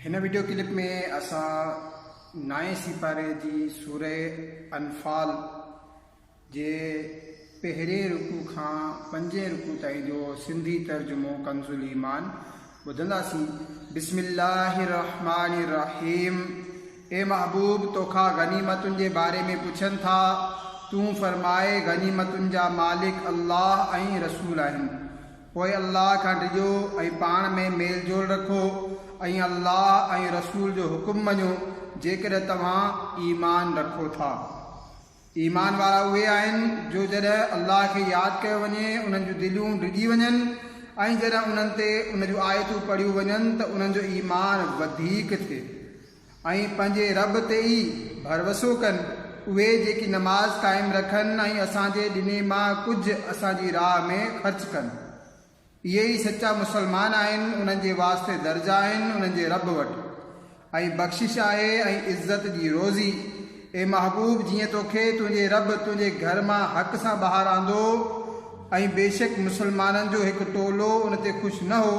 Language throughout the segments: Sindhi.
هن وڊيو ڪلپ ۾ اسان نائين سيپاري جي سوره انفال جي پهرين رڪوع کان پنجين رڪوع تائين جو سنڌي ترجمو ڪنزاليمان ٻڌنداسين بسم الله الرحمٰن الرحيم اي محبوب توکان غنيمتن جي باري ۾ پڇن ٿا تون فرماء غنيمتن جا مالڪ الله ۽ رسول آهن پوء الله کان ڊڄو ۽ پاڻ ۾ ميل جول رکو ۽ الله ۽ رسول جو حڪم مڃو جيڪڏهن توهان ايمان رکو ٿا. ايمان وارا اهي آهن جو جڏهن الله کي ياد ڪيو وڃي انهن جون دليون ڊڄي وڃن ۽ جڏهن انهن تي ان جون آيتون پڙهيون وڃن ته انهن جو ايمان وڌيڪ ٿئي. ۽ پنهنجي رب تي ئي ڀروسو ڪن، اهي جيڪي نماز قائم رکن ۽ اسان جي ڏني مان ڪجهه اسان جي راهه ۾ خرچ ڪن. اهي ئي سچا مسلمان آهن، انهن جي واسطي درجا آهن انهن جي رب وٽ ۽ بخشش آهي ۽ عزت جي روزي. اي محبوب! جيئن توکي تنهنجي رب تنهنجي گهر مان حق سان ٻاهر آندو ۽ بيشڪ مسلمانن جو هڪ ٽولو ان تي خوش نه هو،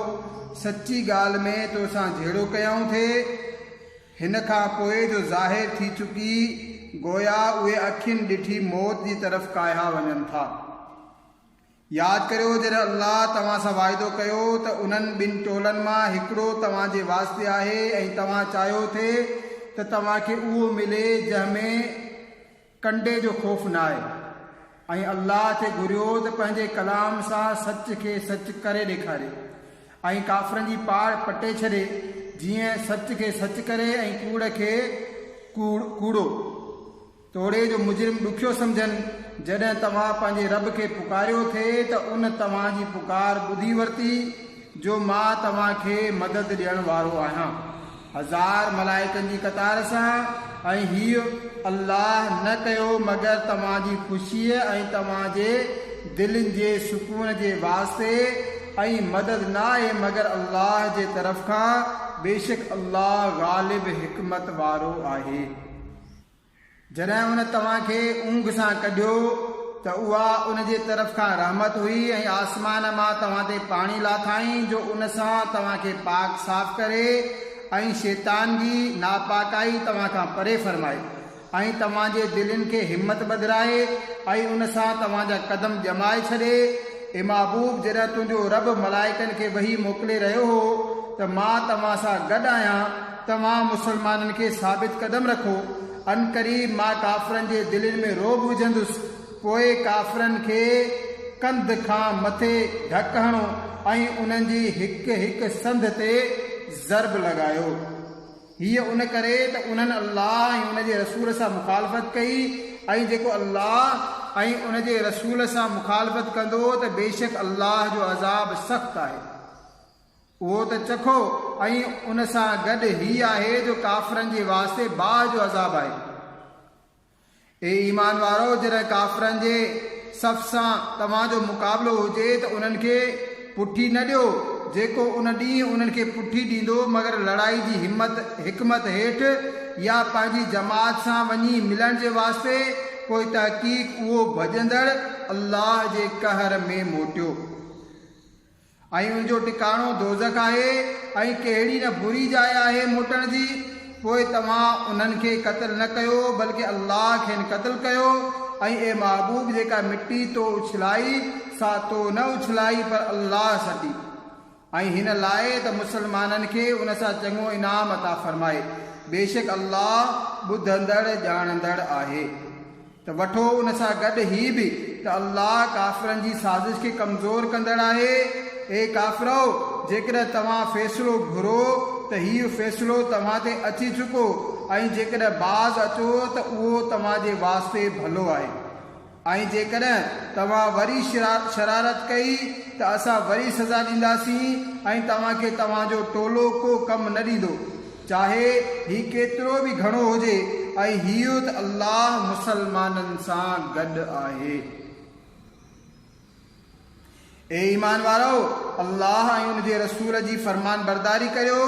سچي ڳالهه ۾ تو سان جهيڙو ڪيائون ٿي، هن کان پوء جو ظاهر ٿي چڪي، گويا اهي اکين ڏٺي موت جي طرف ڪاهيا وڃن ٿا. ياد ڪريو جڏهن الله توهان سان واعدو ڪيو ته انهن ٻن ٽولن مان هڪڙو توهان جي واسطي آهي ۽ توهان چاهيو ٿي ته توهان کي اهو ملي جنهن ۾ ڪنڊي جو خوف ناهي ۽ الله تي گهريو ته پنهنجي ڪلام سان سچ کي سچ ڪري ڏيکاري ۽ ڪافرن جي پاڙ پٽي ڇڏي جيئن سچ کي سچ ڪري ۽ ڪوڙ کي ڪوڙو. توڙي جو مجرم ڏکيو سمجهن، جڏهن توهان پنهنجي رب کي پڪاريو ٿي ته ان توهان جي پڪار ٻڌي ورتي جو مان توهان کي مدد ڏيڻ وارو آهيان هزار ملائڪن جي قطار سان ۽ هيء الله نه ڪيو مگر توهان جي خوشيء ۽ توهان جي دلين جي سڪون جي واسطي ۽ مدد نه آهي مگر الله جي طرف کان بيشڪ الله غالب حڪمت وارو آهي. جڏهن هن توهان کي اونگهه سان ڪڍيو ته اها ان جي طرف کان رحمت هئي ۽ آسمان مان توهان تي پاڻي لاٿائين جو ان سان توهان کي پاڪ صاف ڪري ۽ شيطان جي ناپاڪائي توهان کان پري فرمائي ۽ توهان جي دلين کي همت ٻڌرائي ۽ ان سان توهان جا قدم ڄمائي ڇڏي اي محبوب جڏهن تنهنجو رب ملائڪن کي وحي موڪلي رهيو هو ته مان توهان سان گڏ آهيان توهان مسلمانن کي ثابت قدم رکو، عنقريب مان ڪافرن جي دلين ۾ رعب وجهندس، پوء ڪافرن کي ڪنڌ کان مٿي ڌڪ هڻو ۽ انهن جي هڪ هڪ سنڌ تي ضرب لڳايو. هيء ان ڪري ته انهن الله ۽ ان جي رسول سان مخالفت ڪئي ۽ جيڪو الله ۽ ان جي رسول سان مخالفت ڪندو ته بيشڪ الله جو عذاب سخت آهي. اهو ته چکو ۽ ان سان گڏ هي آهي جو ڪافرن جي واسطي باهه جو عذاب آهي. اي ايمان وارؤ! جڏهن ڪافرن جي صف سان توهان جو مقابلو هجي ته انهن کي پٺي نه ڏيو، جيڪو ان ڏينهن انهن کي پٺي ڏيندو مگر لڙائي جي همت حڪمت هيٺ يا پنهنجي جماعت سان وڃي ملڻ جي واسطي، پوء تحقيق اهو ڀڄندڙ الله جي قهر ۾ موٽيو. ۽ ان جو ٽڪاڻو دوزخ آهي ۽ ڪهڙي نه بري جاء آهي موٽڻ جي، پوء توهان انهن کي قتل نه ڪيو بلڪه الله کين قتل ڪيو، ۽ اي محبوب جيڪا مٽي تو اڇلائي سا تو نه اڇلائي پر الله سٽي، ۽ هن لاء ته مسلمانن کي ان سان چڱو انعام عطا فرمائي، بيشڪ الله ٻڌندڙ ڄاڻندڙ آهي. ته وٺو ان سان گڏ هي به ته الله ڪافرن جي سازش کي ڪمزور ڪندڙ آهي. اي ڪافرؤ! جيڪڏهن توهان فيصلو گهرو ته هيء فيصلو توهان تي اچي چڪو ۽ جيڪڏهن باز اچو ته اهو توهان جي واسطي ڀلو آهي ۽ جيڪڏهن توهان وري شرارت ڪئي ته اسان وري سزا ڏينداسين ۽ توهان کي توهان جو ٽولو ڪو ڪم نه ڏيندو. چاهي هي ڪيترو به گهڻو هجي ۽ هيو ته الله مسلمانن سان گڏ آهي. اي ايمان وارؤ! الله ۽ ان جي رسول جي فرمانبرداري ڪريو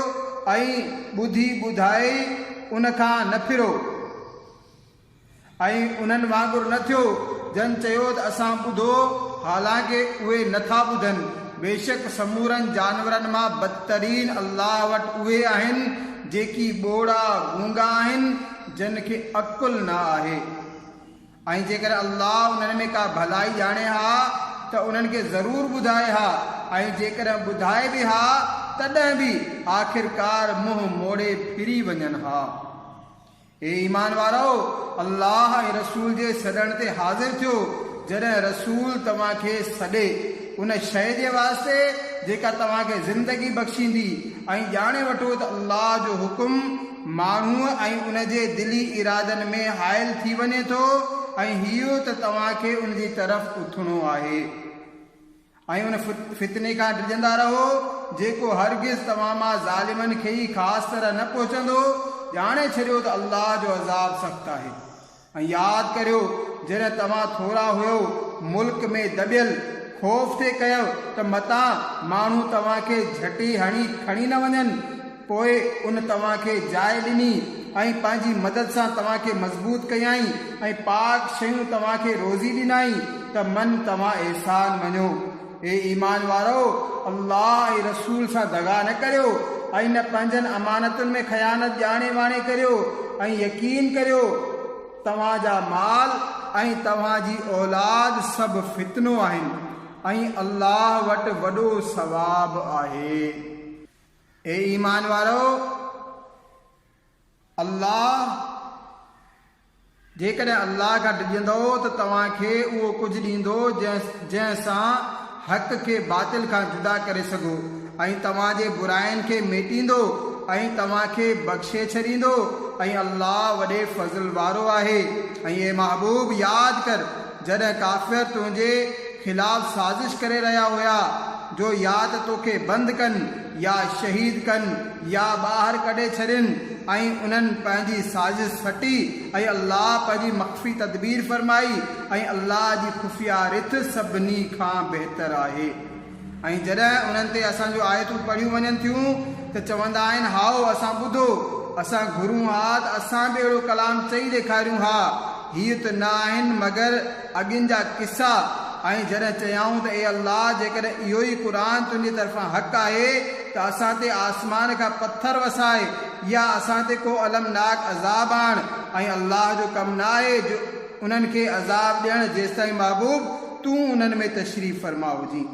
۽ ٻڌي ٻڌائي ان کان نه ڦرو. ۽ انهن وانگر نه ٿيو، جن چيو ته اسان ٻڌو، حالانڪ اهي نه ٿا ٻڌن، بيشڪ سمورن جانورن مان بدترين الله وٽ اهي آهن، جيڪي ٻوڙا، گونگا، آهن، جن کي عقل نه آهي، ۽ جيڪڏهن الله انهن ۾ ڪا ڀلائي ڄاڻي ها ته انهن کي ضرور ٻڌائي ها، ۽ جيڪڏهن ٻڌائي به ها، تڏهن به آخرڪار منهن موڙي ڦري وڃن ها. اي ايمان وارؤ! الله ۽ رسول جي سڏڻ تي حاضر ٿيو، جڏهن رسول توهان کي سڏي، ان شيء جي واسطي جيڪا توهان کي زندگي بخشيندي ۽ ڄاڻي وٺو ته الله جو حڪم ماڻهوء ۽ ان جي دلي ارادن ۾ حائل ٿي وڃي ٿو ۽ هيء ته توهان کي ان جي طرف اٿڻو آهي. ۽ ان فتني کان ڊڄندا رهو، جيڪو هرگز توهان مان ظالمن کي ئي خاص طرح نه پهچندو، ڄاڻي ڇڏيو ته الله جو عذاب سخت آهي. ۽ ياد ڪريو جڏهن توهان ٿورا هيؤ، ملڪ ۾ دٻيل، خوف ٿي ڪيؤ ته متان ماڻهو توهان کي جهٽي هڻي کڻي نه وڃن، پوء ان توهان کي جاء ڏني ۽ پنهنجي مدد سان توهان کي مضبوط ڪيائين ۽ پاڪ شيون توهان کي روزي ڏنائين ته من توهان احسان مڃو. اي ايمان وارؤ! الله ۽ رسول سان دغا نه ڪريو ۽ نه پنهنجن امانتن ۾ خيانت ڄاڻي واڻي ڪريو ۽ يقين ڪريو توهان جا مال ۽ توهان جي اولاد سڀ فتنو آهن ۽ الله وٽ وڏو ثواب آهي. اي ايمان وارؤ! الله، جيڪڏهن الله کان ڊڄندؤ ته توهان کي اهو ڪجهه ڏيندو جنهن سان حق کي باطل کان جدا ڪري سگهو ۽ توهان جي براين کي ميٽيندو ۽ توهان کي بخشي ڇڏيندو ۽ الله وڏي فضل وارو آهي ۽، اي محبوب! ياد ڪر! جڏهن ڪافر تنهنجي خلاف سازش ڪري رهيا هيا جو يا ته توکي بند ڪن يا شهيد ڪن يا ٻاهر ڪڍي ڇڏين ۽ انهن پنهنجي سازش سٽي ۽ الله پنهنجي مخفي تدبير فرمائي ۽ الله جي خفيه رٿ سڀني کان بهتر آهي. ۽ جڏهن انهن تي اسان جون آيتون پڙهيون وڃن ٿيون ته چوندا آهن، هائو، اسان ٻڌو، اسان گهرون ها ته اسان به اهڙو ڪلام چئي ڏيکاريون ها، هي ته نه آهن مگر اڳين جا قصا، ۽ جڏهن چيائون ته اي الله! جيڪڏهن اهو ئي قرآن تنهنجي طرفان حق آهي ته اسان تي آسمان کان پٿر وساء يا اسان تي ڪو المناڪ عذاب آڻ، ۽ الله جو ڪم نه آهي جو انهن کي عذاب ڏيڻ جيستائين محبوب تون انهن ۾ تشريف فرما هجين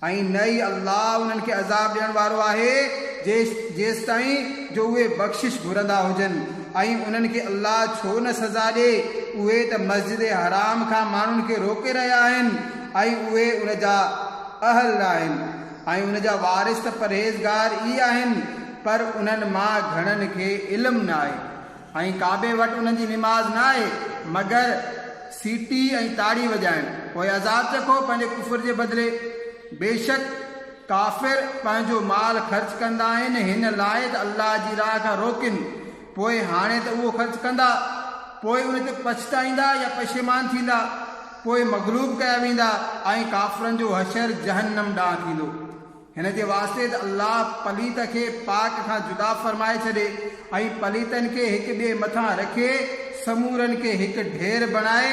۽ نه ئي الله انهن کي عذاب ڏيڻ وارو آهي جيستائين جو اهي بخشش گهرندا هجن ۽ انهن کي الله ڇو نه سزا ڏي اهي ته مسجد حرام کان ماڻهن کي روڪي رهيا آهن ۽ اهي ان جا اهل ناهن ۽ ان جا وارث ته پرهيزگار ئي آهن پر انهن مان گهڻن کي علم ناهي. ۽ ڪعبي وٽ انهن جي نماز نه آهي مگر سيٽي ۽ تاڙي وڄائڻ. پوء عذاب چکو پنهنجي ڪفر جي بدلي. بيشڪ ڪافر پنهنجو مال خرچ ڪندا آهن هن لاء ته الله جي راهه کان روڪين. پوء هاڻي ته اهو خرچ ڪندا پوء ان تي پڇتائيندا يا پشيمان ٿيندا. پوء مغلوب ڪيا ويندا ۽ ڪافرن جو حشر جهنم ڏانهن ٿيندو. هن جي واسطي ته الله پليت کي پاڪ کان جدا فرمائي ڇڏي ۽ پليتن کي هڪ ٻئي مٿان رکي سمورن کي هڪ ڍير بڻائي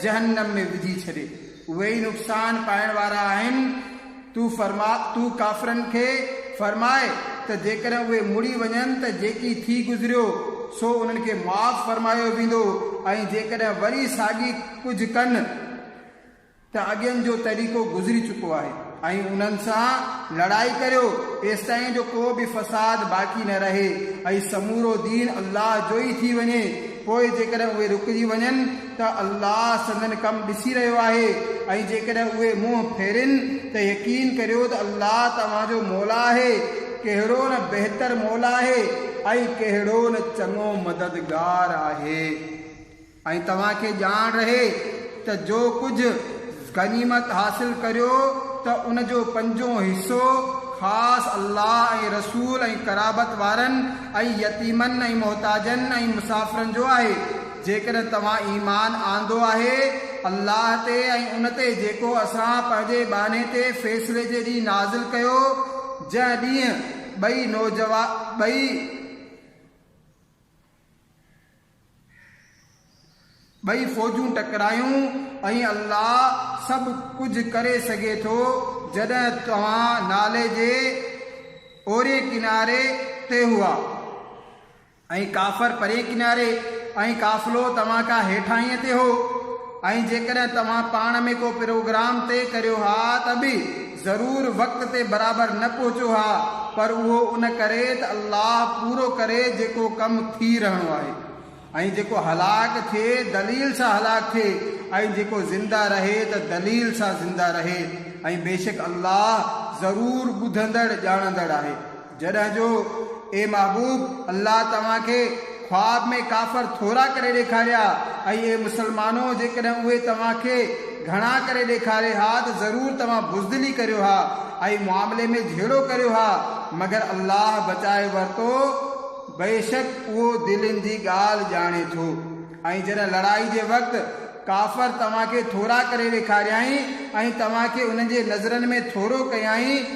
جهنم ۾ وجهي ڇڏي. اهي ئي نقصان پائڻ وارا آهن. تون فرماء، تون ڪافرن کي فرماء ته جيڪڏهن اهي مڙي وڃن ته جيڪي ٿي گذريو سو انهن کي معاف فرمايو ويندو ۽ جيڪڏهن وري ساڳي ڪجهه ڪن، ته اڳين جو طريقو گذري چڪو آهي ۽ انهن سان لڙائي ڪريو ايستائين جو ڪو به فساد باقي نه رهي ۽ سمورو دين الله جو ئي ٿي وڃي پوء جيڪڏهن اهي رڪجي وڃن ته الله سندن ڪم ڏسي رهيو آهي ۽ جيڪڏهن اهي منهن ڦيرين ته يقين ڪريو ته الله توهان جو مولا آهي ڪهڙو نه بهتر مولا آهي ۽ ڪهڙو نه چڱو مددگار آهي. ۽ توهان کي ڄاڻ رهي ته جو ڪجهه غنيمت حاصل ڪريو ته ان جو پنجون حصو خاص الله ۽ رسول ۽ قرابت وارن ۽ يتيمن ۽ محتاجن ۽ مسافرن جو آهي جيڪڏهن توهان ايمان آندو آهي الله تي ۽ ان تي جيڪو اسان پنهنجي ٻانهي تي فيصلي جي ڏينهن نازل ڪيو جنهن ڏينهن ٻئي نوجوان ٻئي ٻئي فوجون ٽڪرايون ۽ الله سڀ ڪجهه ڪري سگهي ٿو جڏهن توهان نالي جي اورين ڪناري تي هئا ۽ ڪافر پرين ڪناري ۽ قافلو توهان کان هيٺاهينء تي هو ۽ جيڪڏهن توهان پاڻ ۾ ڪو پروگرام طئي ڪريو ها ته به ضرور وقت تي برابر نه پهچو ها پر اهو ان ڪري ته الله پورو ڪري جيڪو ڪم ٿي رهڻو آهي ۽ جيڪو هلاڪ ٿئي دليل سان هلاڪ ٿئي ۽ جيڪو زنده رهي ته دليل سان زنده رهي ۽ بيشڪ الله ضرور ٻڌندڙ ڄاڻندڙ آهي. جڏهن جو، اي محبوب! الله توهان کي خواب ۾ ڪافر ٿورا ڪري ڏيکاريا ۽ اي مسلمانو! جيڪڏهن اهي توهان کي گهڻا ڪري ڏيکارين ها ته ضرور توهان بزدلي ڪريو ها ۽ معاملي ۾ جهيڙو ڪريو ها، مگر الله بچائي ورتو، بيشڪ اهو دلين جي ڳالهه ڄاڻي ٿو ۽ جڏهن لڙائي جي وقت ڪافر توهان کي ٿورا ڪري ڏيکاريائين ۽ توهان کي انهن جي نظرن ۾ ٿورو ڪيائين،